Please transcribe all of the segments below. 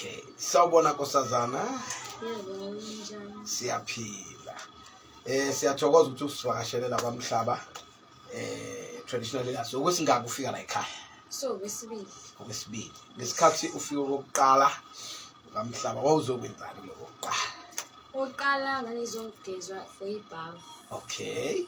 Okay. Sawubona nkosazana. Yebo, njani? Siyaphila. Eh siyathokoza ukuthi usivakashele la kwamhlaba. Eh traditional leaders ukuthi ngakufika la ekhaya. So kwesibili. Okwesibili. Ngesikhathi ufika kokuqala kwamhlaba wawuzokwenzani lokho kuqala? Oqala ngangizongigezwa for ibhavu. Okay.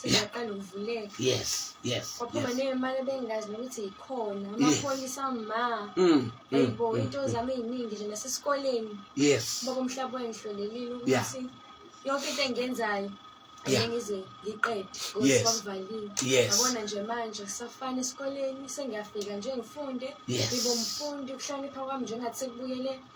siyaqala ukuvuleka yes yes kwaphuma nemali bengazi nokuthi yikhona amaphoyisa ma mm, ayibo mm, mm, into zami eziningi nje nasesikoleni yes baba umhlaba wengihlolelile ukuthi yonke into engiyenzayo ngize ngiqede ngosivaliwe yabona nje manje kusafana esikoleni sengiyafika nje ngifunde ngibe umfundi ukuhlonipha kwami njengathi sekubuyele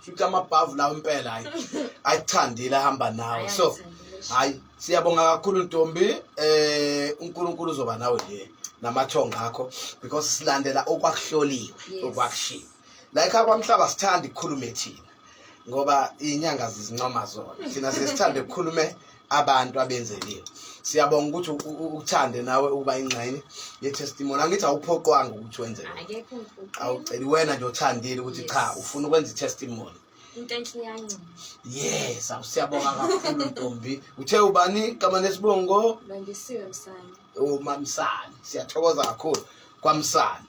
futhi amabhavu lawo impela hayi ayithandile ahamba nawe so hayi siyabonga kakhulu ntombi eh uNkulunkulu uzoba nawe nje namathonga akho because silandela okwakuhloliwe okwakushiwo like akwamhlaba sithanda ukukhuluma ethina ngoba inyanga zizincoma zona thina sesithanda ukukhulume abantu abenzeliwe siyabonga ukuthi ukuthande nawe ukuba ingxenye yetestimony angithi awuphoqwanga ukuthi wenze awuceli wena nje othandile ukuthi cha ufuna ukwenza itestimony into enhle iyancoma yes awusiyabonga kakhulu ntombi uthe ubani kama nesibongo bandisiwe msane umamsane siyathokoza kakhulu kwamsane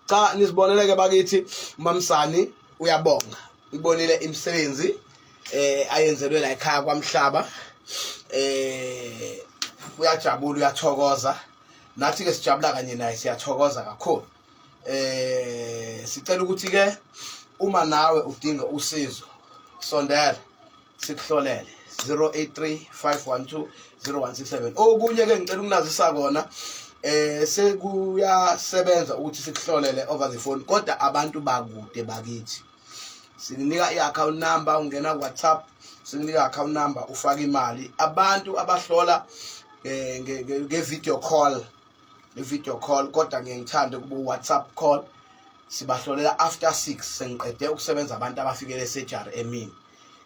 cha nisiboneleke bakithi umamsani uyabonga ibonile imisebenzi eh ayenzelwe la ekhaya kwamhlaba eh uyajabula uyathokoza nathi ke sijabula kanye naye siyathokoza kakhulu eh sicela ukuthi ke uma nawe udinga usizo sondela sikuhlolele 083 512 0167 okunye ke ngicela ukunazisa kona eh sekuyasebenza ukuthi sikuhlolele over the phone kodwa abantu bakude bakithi sikunika i-account number ungena ku-whatsapp sikunika i-account number ufake imali abantu abahlola eh, nge-video call i-video call kodwa ngiye ngithande kuba u-whatsapp call sibahlolela after six sengiqede ukusebenza abantu abafikele esurgery emini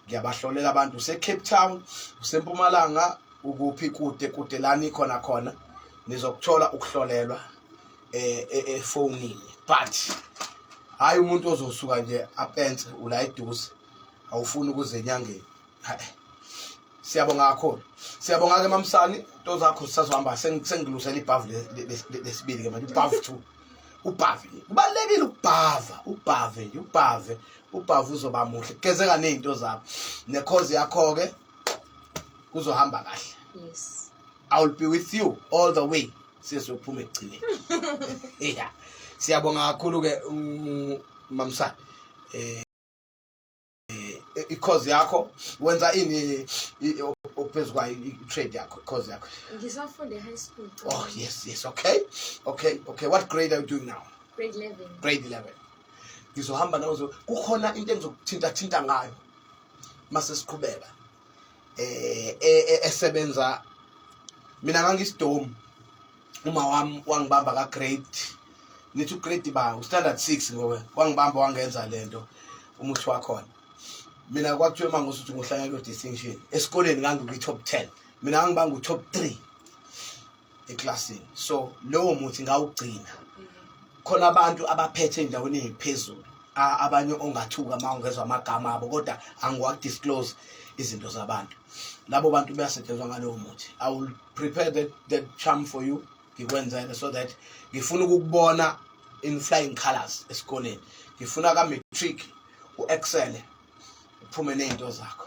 ngiyabahloleka abantu usecape town usempumalanga ukuphi kude kude lani khona khona nizokuthola ukuhlolelwa eh, eh, efonini but hayi umuntu ozosuka nje apense ula eduze awufuni ukuze enyangeni siyabonga kakhulu siyabonga-ke mamsani nto zakho sisazohamba sengilusela ibhavu lesibili-ke manje ibhavu two ubhave kubalekile ukubhava ubhave ubhave ubhava uzoba muhle geze kaningi into zakho nekhozi yakho ke kuzohamba kahle yes i will be with you all the way sizophuma egcine yeah siyabonga kakhulu ke mamsana eh eh, i-cause yakho wenza ini phezu kwayo i-trade yakho i-cause yakho ngisafunde high school oh yes yes okay okay okay what grade are you doing now grade 11 grade 11 ngizohamba nawe kukhona into engizokuthintathinta ngayo mase siqhubeka eh, eh, eh esebenza mina ngangisidomu uma wami wangibamba ka grade ngithi u grade ba u standard 6 ngoba wangibamba wangenza lento umuthi wakhona mina kwakuthiwa uma ngosuthi ngohlanyelwa distinction esikoleni ngangikwi top 10 mina ngangibanga u top 3 eklasini so lowo muthi ngawugcina khona abantu abaphethe endaweni eziphezulu abanye ongathuka uma ungezwa amagama abo kodwa angiwakudisclose izinto zabantu labo bantu bayasetshenzwa ngalowo muthi i will prepare that, that charm for you ngikwenzele so that ngifuna ukukubona in flying colors esikoleni ngifuna ka-matric u-excele uphume ney'nto zakho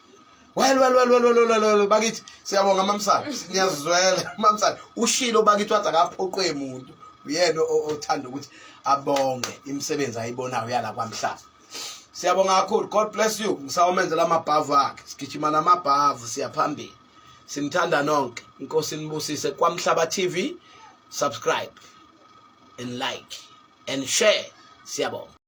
Well well well well well well, well bakithi siyabonga mamsana ngiyazizwela mamsana ushilo bakithi wathi akaphoqwe umuntu uyena othanda ukuthi abonge imisebenzi ayibonayo yala kwamhlaba siyabonga kakhulu god bless you ngisawomenzela amabhavu akhe sigijima namabhavu siyaphambili simthanda nonke inkosi nibusise kwamhlaba tv subscribe and like and share siyabonga